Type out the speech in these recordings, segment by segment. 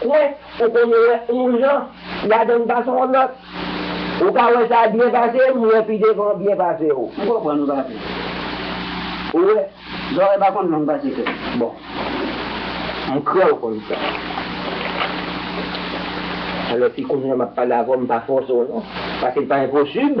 Kwen ou konn wè on jan ladann pa son lòt ou ka wè sa byen pase m wè pi devan byen pase w. M konprann ou papi ou wè zòrèy pa konn long pase tèt bon m kwè ou konn sa alò si kounya map pale avè w m pa fòse w non paske l pa enposib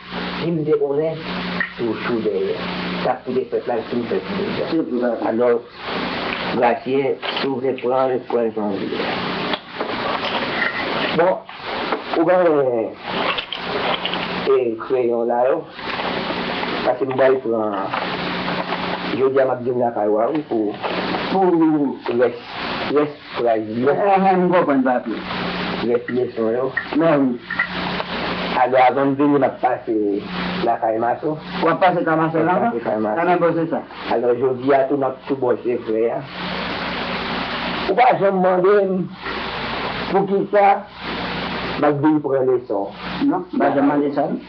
Di m debonè ak yon chou dèyè. Sa k koute pèp la l fin fè ti dega. Alò Gratien si w vle pran l pran l jan w vle. Bon ou pa renmen kreyon la yo pase m bay pran jodi a m ap di m lakay w a wi pou rès Fraz di yo. Enhen m konprann papi. Rès leson yo. Men wi. Alò avan m vini m ap pase lakay Maso. W ap pase kay Maso la ankò? Sa nan bòse sa. Alò jodi a tou m ap tou bòse frè a. Ou pa janm mande m poukisa m ap vin pran leson. Non, m pa janm mande sa non.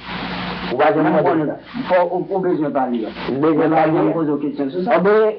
Ou pa janm mande sa. Fò ou bezwen pale. M bezwen pale. M pa janm poze w kesyon sou sa. Anben.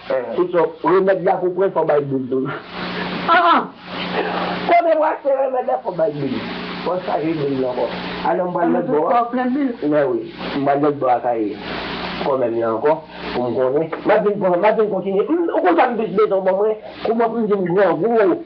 Se sa w remèd la pou pwen fò bay bil tou nan. Aa! Konnen brase remèd la fò bay bil. Fò chaje bil nan ankò. Alò m pral lòtbò a. Mè wi. M pral lòtbò a kay kòmè m nan ankò pou m konnen. M ap vin pran, m ap vin kontinye. M ou konn sa m plis bezwen w ban mwen? Kouman pou m vin grangou?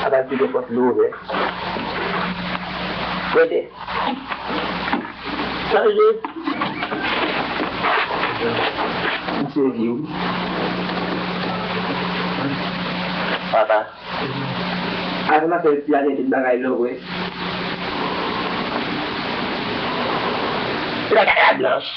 Sa pa di gen pòt louvè. Rete. Chanje. M sezi wi. Papa. Avè m apèl ti a gen tout bagay lò vre. Ti bagay la blanch.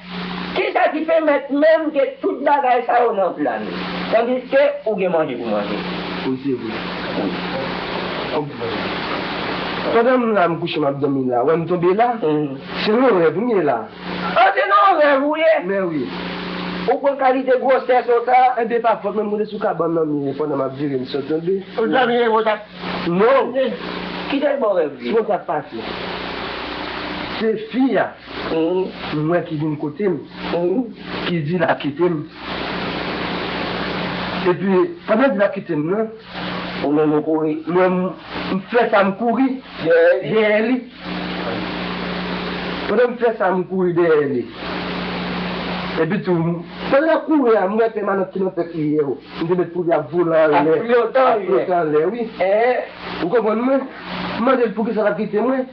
Kisa ki pèmèt menm ke tout bagay sa yo nan plan li, tandiske ou gen manje pou manje? Wi se vre. Wi. Kòm pral la. Pandan m la m kouche m ap dòmi la, wè m tonbe la. Se nan rèv m ye la. Ah se nan rèv ou ye? Men wi. Ou pran kalite gwosè so sa? Enben pa fòt mwen, m rete sou kabann nan m ye pandan m ap vire m sot tonbe. Ou t dòmi e wont ap. Non. Kite l ba w rèv li. Siw wè sa k pase. Se fi a. Ou wè ki vin kote m. Ou ki di l ap kite m. Epi, pandan l di l ap kite m nan. M fè sa m kouri dèyè li. Pandan m fè sa m kouri dèyè li. Epi tou, pandan l ap kouri a, m wè pèmanant ki nan tèt li yo. M te mèt pou li ap vole anlè. Ap flote anlè. Ou konprann mwen? M mande l poukisa l ap kite mwen.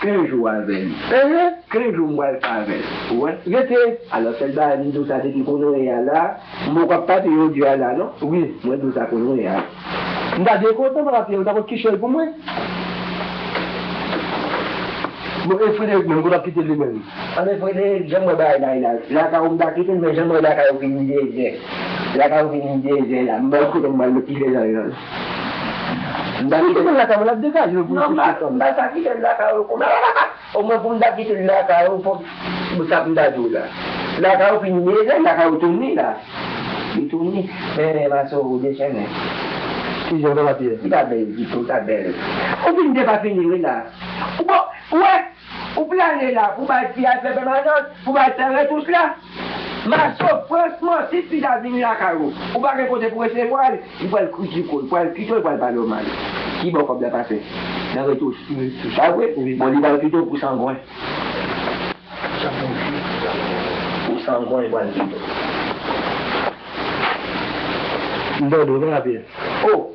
Ken jou avè li. Ehe! Ken jou m pral pa avè l. Ou wè? Rete! Alò sèl bagay m di w sa depi kounye a la, m poko ap pati yo di a la non. Wi, mwen di w sa kounye a. M ta byen kontan papa Pyè ou ta konn kiche l pou mwen. Bon e Frederik menm, kote w ap kite li menm? Anben Frederik, jan m wè bagay la ye la, lakay ou m ta kite l men jan m wè lakay ou vin dezè, lakay ou vin dezè la, m pa wè kote m pral met ti Frederik. M ta kite l lakay mwen lap degaje l pou l kite fanm nan. Sa kite l lakay ou kouman o mwen pou m ta kite l lakay ou fok m sa m ta di w la lakay ou fini me zen lakay ou touni la li touni men ma sou ou dechennen ki jan ou ta pati li ta bel ditou ta bel ou fini depa fini wi la ou bon ou wè. Ou plane la pou bay fi a fè pèmanans pou bay fè retouch la. Maco franchman si fi sa vini lakay ou, ou pa gen kote pou resevwa l, li pral kritike w, li pral kite w, li pral pale w mal. Ki bò kòb la pase? Nan retouch. Pa vre? Bon li pral kite w pou sangwen. Pou sangwen li pral kite w. M tande w, men rapid. Oh!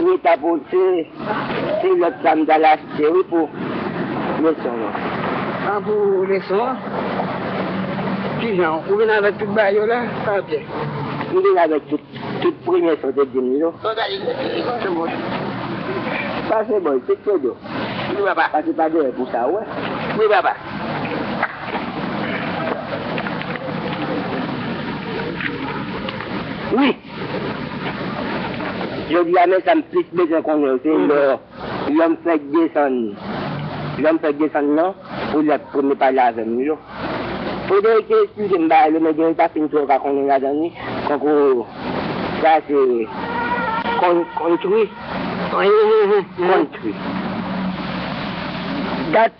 Mwen ta pote ti lot sa m tal achte wi pou leson an. Ah pou leson an? Kijan ou vin avek tout bagay yo la Fabie? M vin avek tout, tout premye sa w te dim yo. Bon gade yon ti moun. Pase bal tout photo. Wi papa. Pase pa dèyè pou sa wè. Wi papa. Wi. Jodi a men sa m plis bezwen konnen yo se lè lèm fèk desann lèm fèk desann nan pou lè premye pale avè m yo Frederick te esplike m bagay yo men gen yo m pa fin twò ka konnen ladan li tankou sa se kon kontri kontri dat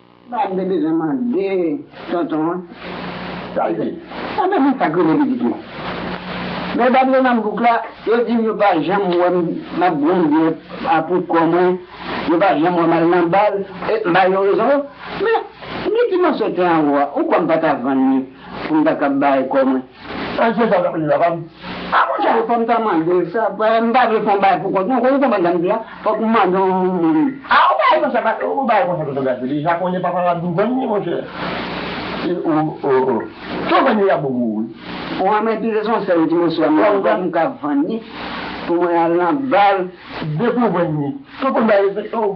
Sa m te bezwen mande tonton an. Tande, sa menm li pa k rele pitit nou. Lè bab yo nan bouk la, yo di m yo pa janm wè m m ap bwè byè a pou kò mwen, yo pa janm wè m al nan bal, e m ba yo rezon yo. Men, gen ti moso tè anwo a, ou kwè m pa ta vann li pou m ta kab bare kò mwen? Sa Jezi ap di la pa m. A bon sa fòm ta mandel sa m pa vle fon bagay pou kont mwen ou konprann sa m di la fòk m mande yon moun. A ou bay konsa paske ou bay konsa paske w gade deja konnen papa w ap vin vann li monchè e ou oo si w vann li yap bo pou ou wi. Ou renmen pi se son sèl ti moso a menm fòk m ka vann li pou mwen al nan bal. Depi w vann li si w konn bay respèkte w.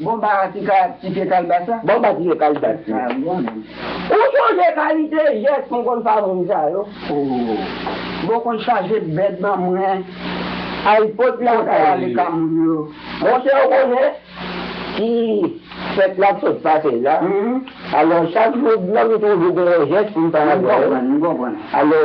Bon ba a ti ka ti pye kalbasa. Bon ba ti pye kalbas yo. Ou sonje kalite jès mwen konn fa moun sa yo ooh. Bon konn chaje bèt ban mwen al pot la ka ale ka moun yo. Monchè ou konnen ti fèt la k sot pase la alò chak jou blan m toujou gen yon jès pou m fè avè l alò.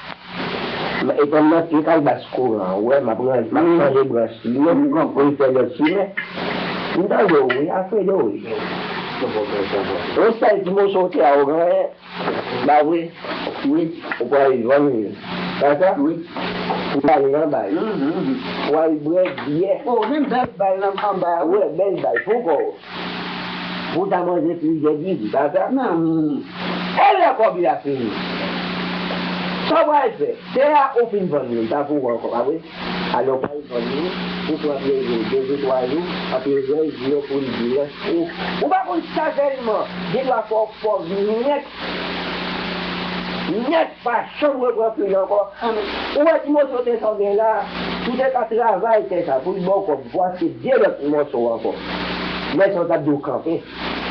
M epranm nan pye kalbas kouran an wè map ranje map chanje branch li yo poul fè lòt chimen m tande w wi Alfredo wi yon sèl ti moso tè a ou genyen la vre wi ou pral vann li pa sa wi pou w ale anba yo pou w al bwè byè wè bèl bal pou kò w. Pou ta manje plizyè digi pa ta nan min. E lè kòb li a fini? Sa w pral fè? Tè a ou fin vann li, li pa pou ou ankò, pa vre? Alò pa al vann li, ou pran plezi w de jou twa jou, anpi rès jou yo pou li di rès ou. Ou pa konn sa sèlman, gendwa fè w pòv nèt! Nèt! Pa janm repran fluid ankò. Ou wè ti moso tè sa ou gen la, si w te ka travay tè sa pou l ba w kòb pou achte 2 lòt mòso ankò, lè sa w t ap di w kanpe.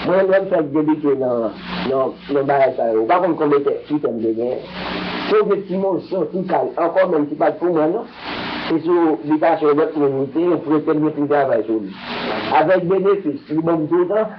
Mwen menm lè m fèk debite nan nan bagay sa yo, ou pa konn konbe tè fwi tè m te genyen. Si w gen ti moso, ti kay ankò menm ki pa t pou mwen non, se sou bitasyon lòt moun li te ye, m prete m gen pou m travay sou li. Avèk benefis li ban m toutan.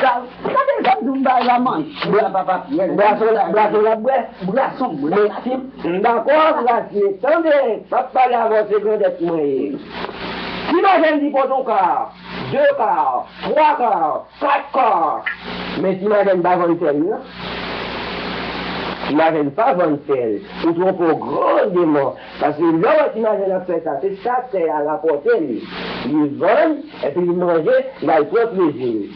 Gade jan Doum bay la manti la papa pyès. Brason lap bwè brason bwè sim. M dakò ak Rasie tande pap pale avèw se grandèt mwen ye si madanm di pot on kar 2 kar 3 kar 4 kar men si madanm pa vann sèl nan si madanm pa vann sèl ou twonpew gran deman Paske lè w wè ti majen l ap fè sa, se sa tè a rapòte li. Li vann, epi li manje, l al pran plezi li.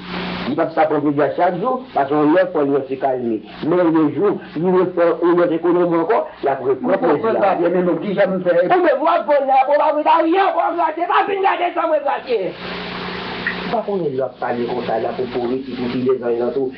Li p ap ka pran plezi a chak jou, paske yon lòt fwa li wè se kay li. Men le jou li refè yon lòt ekonomi ankò, l ap repran plezi la. Mwen konprann pa byen, men non, ki jan m fè? Ou menm, w ap vann la pou w pa pran anyen ankò w gratye. Pa vin gade san mwen gratye. Ou pa konnen lè w ap pale konsa la pou pouri ti koutile zany lan tou.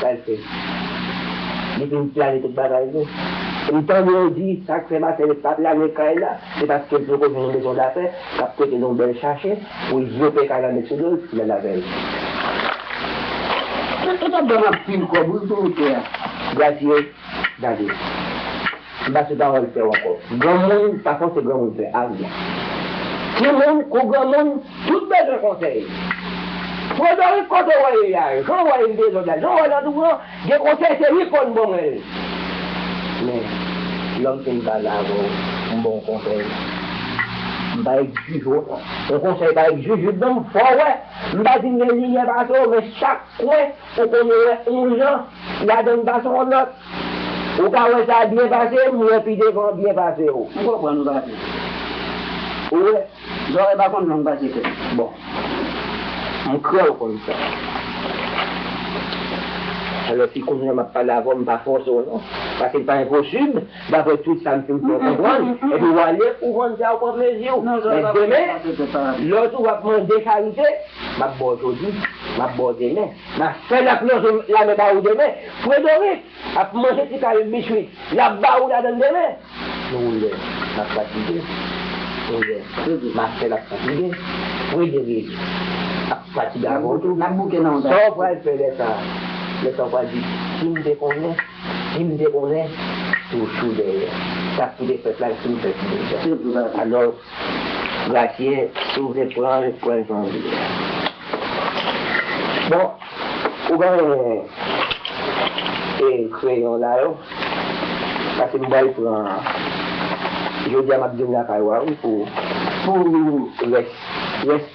Sa l fè? Li vin plane tout bagay vre. Li tande yo di sa k fè Marcellette pa plane kay la, se paske l poko jwenn yon mezon dafè k ap prete l yon bèl chache pou l vlope kay la met sou do l pou l al avè l. Sa t ap ban m anpil kòb wi pou wout la. Gracieux David. Se pa ti pawòl sèw ankò. Granmoun pa fòse granmoun fè aryen. Timoun kou granmoun tout bezwen konsèy. Frederick kote wè ye a, jan wè yn dezòd la, jan wè landou an gen konsèy se li konn bon mwenl. Men lòm fin pale avèw m baw konsèy m pa ek juju non. Yon konsèy pa ek jujube non m fè w wè m pa di m gen limyè pase w men chak kwen ou konn wè yon jan ladann pase yon lòt. Ou ka wè sa byen pase m wè pi devan byen pase w. M konprann ou pase. Ou wè, zòrèy pa konn long pase tèt. Bon. M kwè w konn sa. Alò si kounye a m ap pale avè w m pa fòse w non. Pase l pa enposib, daprè tout sa m fin fè w konprann. Epi w ale pou w vann sa ou pran plezi w. Men demen, lè w toujou ap mande charite, m ap ba w jodi, m ap ba w demen. Na fè lap manje lame ba ou demen. Fredoric ap manje ti kay bich li lap ba ou ladann demen. Ou wè map fatige. Ou wè na fè lap fatige. Frederic ap fatige avè w tou. Sa w pral fè lè sa. Lè sa w pral di sim te konnen, sim te konnen. Toujou dèyè. Sak pou te fèt la sim fèt deja. Alò. Gratien si w vle pran l pran l jan w vle a. Bon ou genyen e kreyon la yo pase m bal pran jodi a map di m lakay wa wi pou. Pou w li rès rès.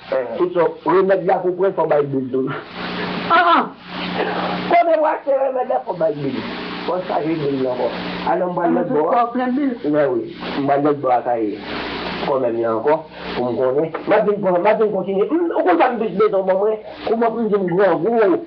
Tout sa w remed la pou pran fò bay bil tou aa konnen w achte remed la fò bay bil fò w chaje bil nan ankò alon m pral lòtbò a mèwi m pral lòtbò a kay kòmè m nan ankò pou m konnen map vin pran map vin kontinye m ou konn sa m plis bezwen w ban mwen kouman pou m vin grangou.